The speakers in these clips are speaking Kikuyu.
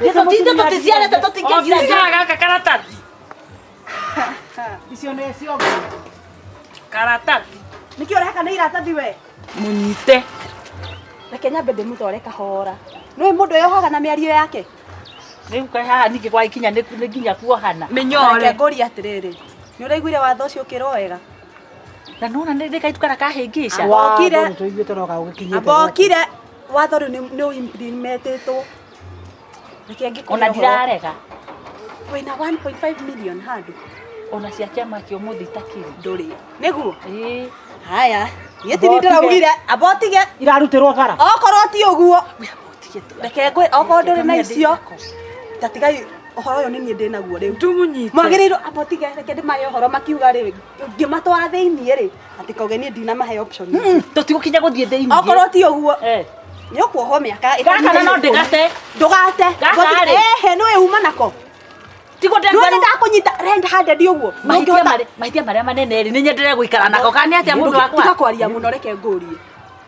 Gĩtũtinde tũticiarĩte tũtingĩciara gaka karatathi. Icio nĩ ciongo. Karatathi. Nĩkĩ ũrehaka nĩ iratathi we? Mũnyite. Reke nyambe ndĩmũtware kahora. Nĩũĩ mũndũ eyohaga na mĩario yake? Rĩu kaĩ haha ningĩ gwagĩkinya nĩ nĩ nginya kuohana. Mĩnyore. Reke ngũrie atĩrĩrĩ. Nĩ ũraiguire watho ũcio ũkĩrwo wega? Na nona nĩ nĩ kaitu kara kahĩngĩca. Wokire. Tũiguĩte no gagũkinyĩte. Amba okire watho rĩu nĩ nĩ ũrimetĩtwo. Reke ngĩkũhe Ona ũhoro. ndirarega. Wĩna 1.5 million handũ. Ona cia kĩama kĩa ũmũthĩ itakĩrĩ. Ndũrĩ. Nĩguo? Ĩĩ. Haya. Niĩ ti niĩ ndĩraugire abotige. Irarutĩrwo bara. Okorwo ti ũguo. Reke ngwe okorwo ndũrĩ na icio. Ta tigai ũhoro ũyũ nĩ niĩ ndĩnaguo rĩu. Tũmũnyite. Mwagĩrĩirwo abotige reke ndĩmahe ũhoro makiuga rĩ ngĩmatwara thĩiniĩ rĩ Atĩ koge niĩ ndinamahe option. Tũtigũkinya gũthiĩ thĩinĩ. Okorwo ti ũguo. Eh. Nĩ ũkuohwo mĩaka. Gaka na no ndĩgate. Ndũgate. Gaka rĩ. Ehe, nĩ wĩuma nako. Tigo ndĩ ngwaru. Nĩ ndakũnyita renda hande ndi ũguo. Mahĩtia marĩa manene rĩ, nĩ nyendere gũikara nako. Kana nĩ atĩa mũndũ wakwa? Tiga kwaria mũno reke ngũrie.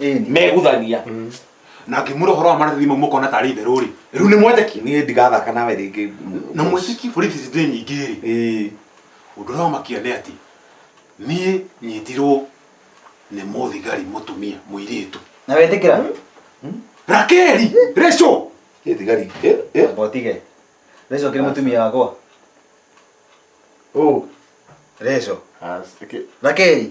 Ĩni. meguthania Mm. na ngĩmwĩra ũhoro wa marĩrĩri mau mũkona tarĩ itherũ rĩ rĩu nĩ mwetekia niĩ ndigathaka nawe rĩngĩ na mwĩtĩki borithi ici ndĩ nyingĩ rĩ Ĩĩ. ũndũ ũrĩa wamakia nĩ atĩ niĩ nyitirwo nĩ mũthigari mũtumia mũirĩtu Na wetĩkĩra? rakeri reco Ĩ thigari ĩ ĩ Botige. Reco kĩrĩ mũtumia wakwa. ũ Reco. Rakei.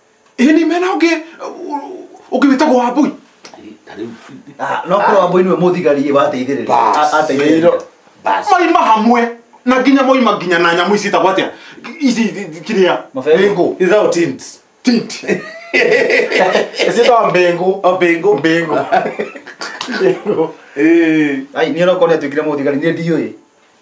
ĩ nĩ mena ũngĩ ũngĩ wĩtagwo wambui Ah, no korwo wamboi niwe mũthigari wateithĩrĩria Bas. A- ateithĩrĩria Bas. maima hamwe na nginya moima nginya na nyamũ ici itagwo atĩa ici kĩrĩa Mabebe. mbĩngũ Ithao tint. tint ĩciĩtagwo mbĩngũ O bingo. mbĩngũ mbĩngũ Eh. ai niĩ no korwo nĩatuĩkire mũthigari niĩ ndiũĩ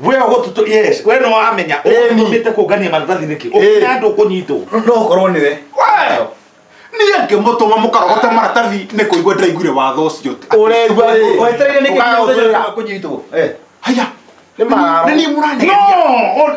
we gututu yes we no amenya Ĩni. utumite kungania maratathi niki Ĩĩ. ukina andu kunyitwo no korwo nĩ we niä ngä må tå ma må karogote maratathi nä kå igua ndaiguire watho å cio ũregua wetereire nĩkĩ Ũkaga mũthenya ũtwĩra. wa kũnyitwo Eh, haya Nĩ mararo. nä niä må ranegeria no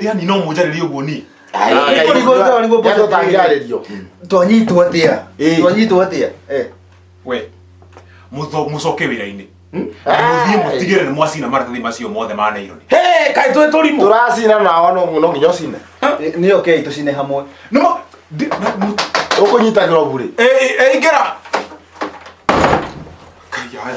yani no munjarĩrie ũguo niĩ Nĩguo- nĩguo- nĩguo- nĩguo- tonyitwo atia Ĩĩ. tonyitwo atia we mũtho- mũcoke wĩra-inĩ mũthiĩ mũtigĩre nĩ mwacina maratathi macio mothe ma naironi Hey, kaĩ twĩ tũrimũ turacina nao no no nginya ũcine nä oke itå cine hamwe nĩmo ndi- na- mũ- å kå nyita globu rä ĩ- ĩ- ĩingĩra kaiaya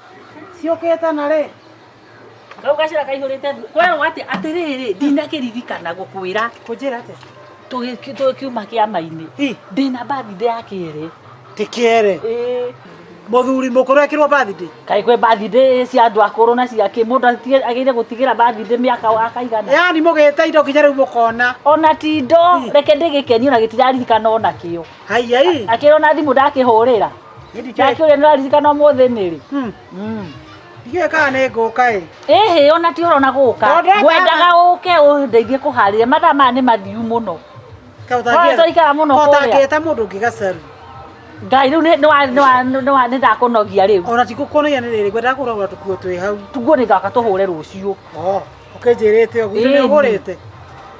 ciũkĩte na rĩ kau gacĩra kaihũrĩte ndu- kwerwo atĩ atĩrĩrĩ ndinakĩririkana gũkwĩra kũnjĩra atĩa tũgĩ- tũkiuma kĩama-inĩ Ĩ. ndĩna birthday ya kĩrĩ tikere Ĩ. muthuri mukuru ekirwo birthday kaĩ kwĩ birthday cia andũ akũrũ na cia kĩ mũndũ atige- agĩrĩire gũtigĩra birthday mĩaka akaigana yani mugite indo kinya riu mukona ona tindo reke ndĩgĩkenio na gĩtiraririkana ona kĩo haiya i akĩrwo na thimũ ndakĩhũrĩra nake ũrĩa nĩraririkana ũmũthĩ nĩrĩ ndiũĩ kana nĩ ngũka ĩ ĩhĩ ona ti ũrona gũka Tondũ eka- ngwendaga ũke ũndeithie kũharĩria mathaa maya nĩ mathiu mũno Oya, twaikara mũno kũrĩa. kotangĩte mũndũ ũngĩ gacaru ngai rĩu nĩ- nĩwa- nĩwa- nĩwa- nĩndakũnogia rĩu ona ti gũkuonagia nĩ rĩrĩ ngwendaga kũragũra tũkuo twĩ hau tuguo nĩ ngaka tũhũre rũciũ ũkĩnjĩrĩte ũguo Ĩĩ. nĩ ũgũrĩte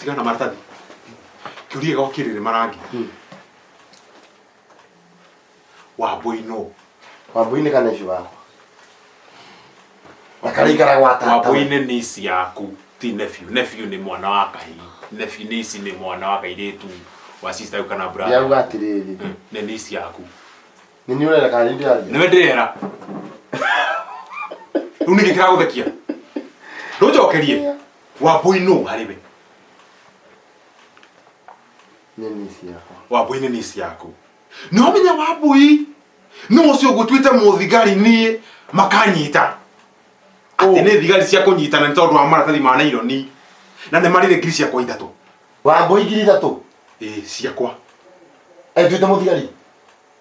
tiga na maratathi kiurie gokirire marangi wambui no wambuinä kana ici wakwa akaraikara gwa tata wambui-inĩ nĩ ici yaku ti nephew nephew nĩ mwana wa kahi nephew nĩ ici nĩ mwana wa kairĩtu wa sister yau kana brother yauga atä rä rä nĩ nĩ ici yaku nä nä å renda kana nä ndä aria nĩwe ndĩrera rĩu nĩkĩ kĩragũthekia ndũnjokerie wambũi nũ harĩ we nĩ nisi yakwa wambũi nĩ nĩci yaku no menya wambũi nũ ũcio ngũtuĩte mũthigari niĩ makanyita atĩ nĩ thigari cia kũnyitana nĩ tondũ wa maratathi ma naironi na nĩ marĩrĩ ngiri ciakwa ithatũ wambũi ngiri ithatũ ĩĩ ciakwa enduĩte mũthigari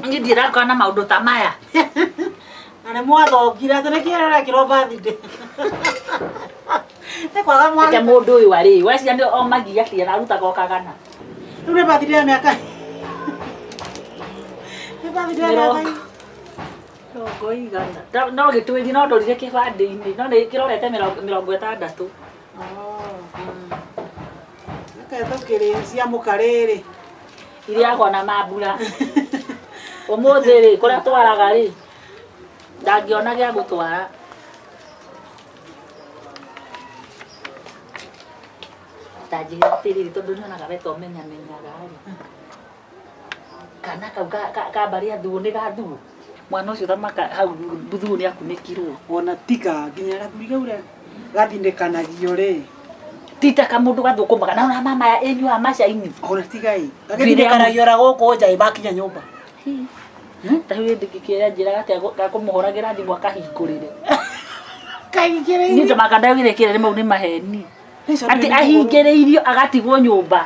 Nĩ ndirarĩkana na maũndũ ta maya. Na nĩ mwathongire atĩ nĩkĩ arekĩrwo birthday. Nĩ kwaga Reke mwana. mũndũ ũyũ arĩ weciria nĩ omagia atĩ ararutaga o kagana. Rĩu nĩ birthday ya mĩaka. Nĩ birthday ya Mĩrongo. mĩaka. Mĩrongo igana. No- No gĩtwĩri no ndorire kĩbandĩ-inĩ no nĩ kĩrorete mĩrongo mĩrongo ĩtandatũ. Reke tũkĩrĩe cia mũkarĩrĩ. Irĩagwo na mambura. Ũmũthĩ rĩ, kũrĩa twaraga rĩ, ndangĩona gĩa gũtwara. Ndanjĩrĩra atĩrĩrĩ, tondũ nyonaga we to ũmenyamenyaga rĩ, Kana kau ka, ka, ka mbarĩ ya thuo nĩ ga thuo. Mwana ũcio thamaka hau thuo nĩ akunĩkirwo. Ona tiga nginya gathuri kau rĩ gathindĩkanagio rĩ. Tita ka mũndũ gathũkũmaga na ona mama ya enyu a macaini. Ona tiga ĩ. Gagĩthindĩkanagio ora gũkũ nja ĩ makinya nyũmba. Ta rĩu hĩndĩ ngĩkĩoya njĩra atĩa ga kũmũhũragĩra thimũ akahingũrĩre. Kahingĩrĩire. Niĩ thamaka ndagĩrĩkĩre nĩ mau nĩ maheni. atĩ ahingĩrĩirio agatigwo nyũmba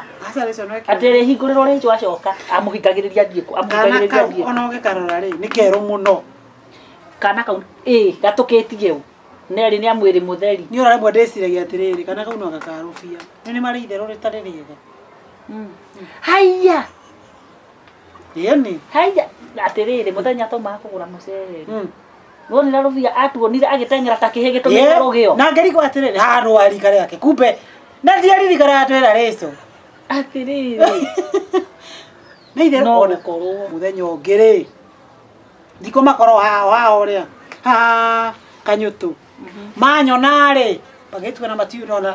atĩ rĩhingũrĩrwo rĩnjũ acoka amũhingagĩrĩria ndiĩ kũ- amũhingagĩrĩria ndiĩ kũ. ona ũgĩkarora rĩ nĩ kerũ mũno kana kau ĩ gatũkĩtie ũ nerĩ nĩ amwĩrĩ mũtheri nĩ ũraremwo ndĩciragia atĩrĩrĩ kana kau no gakarũbia nĩ nĩ marĩ itherũ rĩtarĩ rĩega haiya ĩni haiya atĩrĩrĩ mũthenya tũmaga kũgũra mũcere Mm. Nonire Rubia atuonire agĩteng'era ta kĩhĩ gĩtũmĩte Yeah, rũgĩo. na ngerigwo atĩrĩrĩ haha nũ warika rĩake kumbe na ndiaririkana atwĩra rĩcũ Atĩrĩrĩ. nĩ itherũ No ona gũkorwo. mũthenya ũngĩ rĩ ndikũ makorwo hao hao rĩa ha kanyũtũ manyona rĩ magĩtua na matiunona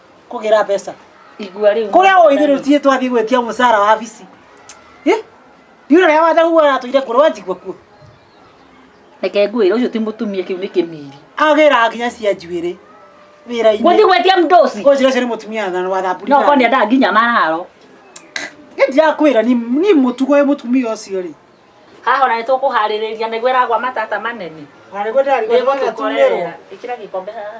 kũgĩra mbeca igua rĩu kũrĩa ũithirĩ tiĩ twathiĩ gwĩtia mũcara wa bici ndiũrĩa rĩa watha huo aratũire kũrĩ wanjigua kuo reke ngwĩre ũcio ti mũtumia kĩu nĩ kĩmiri agĩra nginya cia njuĩrĩ wĩra-inĩ gũthiĩ gwetia mdosi ũcio ũcio nĩ mũtumia thana wa thamburi no koni endaga nginya mararo nĩ ndirakwĩra ni ni mũtugo wĩ mũtumia ũcio rĩ haha ona nĩ tũkũharĩrĩria nĩguo ĩragwa matata manene Arĩgweta arĩgweta Nĩgũtũkorerera. ĩkĩra gĩkombe haha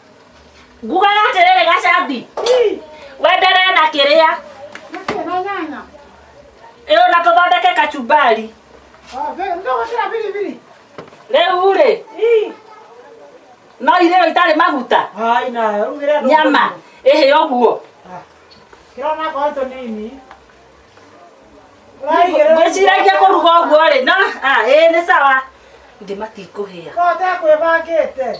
ngugaga atĩrĩrĩ gacambi wenderee na kĩrĩa ĩyo na tũthondeke kachumbari rĩu rĩ no irĩo itarĩ maguta nyama ĩhĩ ũguo ngwĩciragia kũruga ũguo rĩ no ah, ĩĩ nĩ sawa ndĩ matikũhĩa Roho atekwĩbangĩte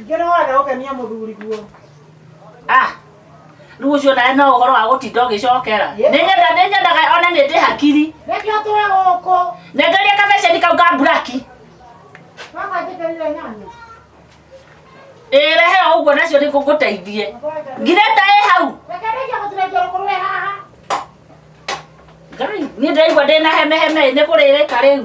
Ingĩ no wage gũkenia mũthuri guo. Ah, rĩu ũcio nawe no ũhoro wa gũtinda ũgĩcokera Yep. nĩnyenda nĩnyendaga ona nĩ ndĩ hakiri Nĩkĩo tũwe gũkũ. nengeria kabeceni kau ka mburaki Mama njĩkĩrire nyanya. ĩrehe o ũguo nacio nĩ ngũgũteithie ngirĩta ĩ hau Reke nĩkĩo gũtirĩkia rũkũrũ wĩ haha. ngai niĩ ndĩraigua ndĩ na hemeheme nĩ kũrĩrĩka rĩu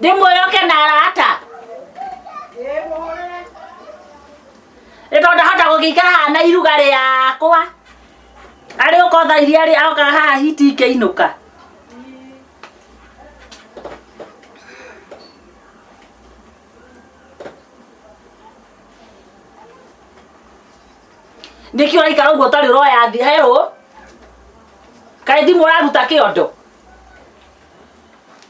ndĩmwĩre oke na arata nĩ tondũ ndahota gũgĩikara haha na iruga rĩakwa arĩ ũkotha iria rĩ aokaga haha hiti ikĩinũka nĩkĩ ũraikara ũguo ũtarĩ ũroya thi herũ kaĩ thimũ ũraruta kĩondo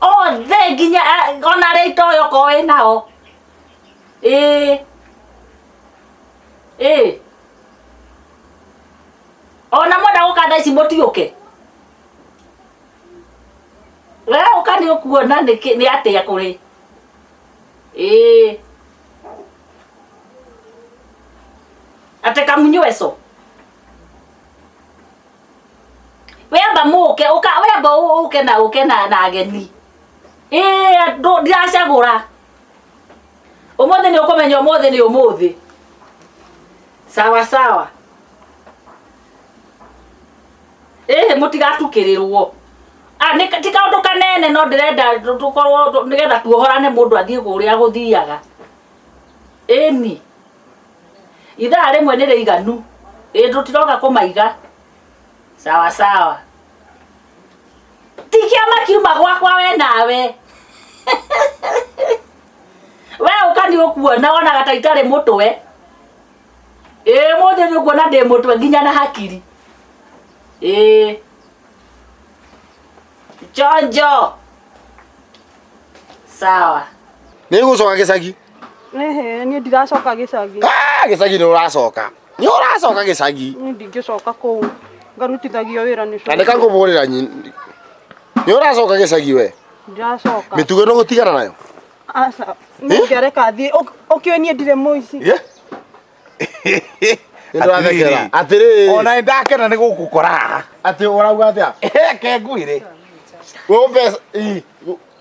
othe nginya eh, ona arĩa itoĩ okorwo wĩ nao ĩĩ ĩĩ ona mwenda gũka thaa ici mũtiũke we ũka nĩ ũkuona nĩ kĩ- nĩ atĩa kũrĩ ĩĩ atĩ kamunyweco wemba mũke ũka wemba ũ- ũke na ũke na na ageni ĩĩ ndũ- ndiracagũra ũmũthĩ nĩ ũkũmenya ũmũthĩ nĩ ũmũthĩ sawa sawa ĩhĩ mũtigatukĩrĩrwo Ah, nĩ- ti kaũndũ kanene no ndĩrenda tũ- tũkorwo tũ- nĩgetha tuohorane mũndũ athiĩ kũrĩa gũthiaga ĩni ithaa rĩmwe nĩ rĩiganu ĩ tũtiroka kũmaiga sawa sawa ti kĩama kiuma gwakwa we nawe we ũka nĩ ũkuona wonaga ta itarĩ mũtwe ĩ mũthĩ nĩ ũkuona ndĩ mũtwe nginya na hakiri ĩ chonjo sawa nä gå coka gä cagi Ehe, niĩ ndiracoka gĩcagi. Ah, gĩcagi nĩ ũracoka nĩ ũracoka gĩcagi Niĩ ndingĩcoka kũu. Ngarutithagio wĩra nĩ na nĩka cũcũ. ngũmũrĩra nyi- nĩ ũracoka gĩcagi we Ndiracoka. mĩtugo ĩno gũtigana nayo Aca, nĩngĩareka thiĩ. Ũk- Ũkĩũĩ niĩ ndirĩ mũici. Ye? Nĩ ndĩrathekera. Atĩrĩrĩ. Ona nĩ ndakena nĩ gũgũkora haha. atĩ ũrauga atĩa Reke ngwĩre. Wĩ mbeca- ii,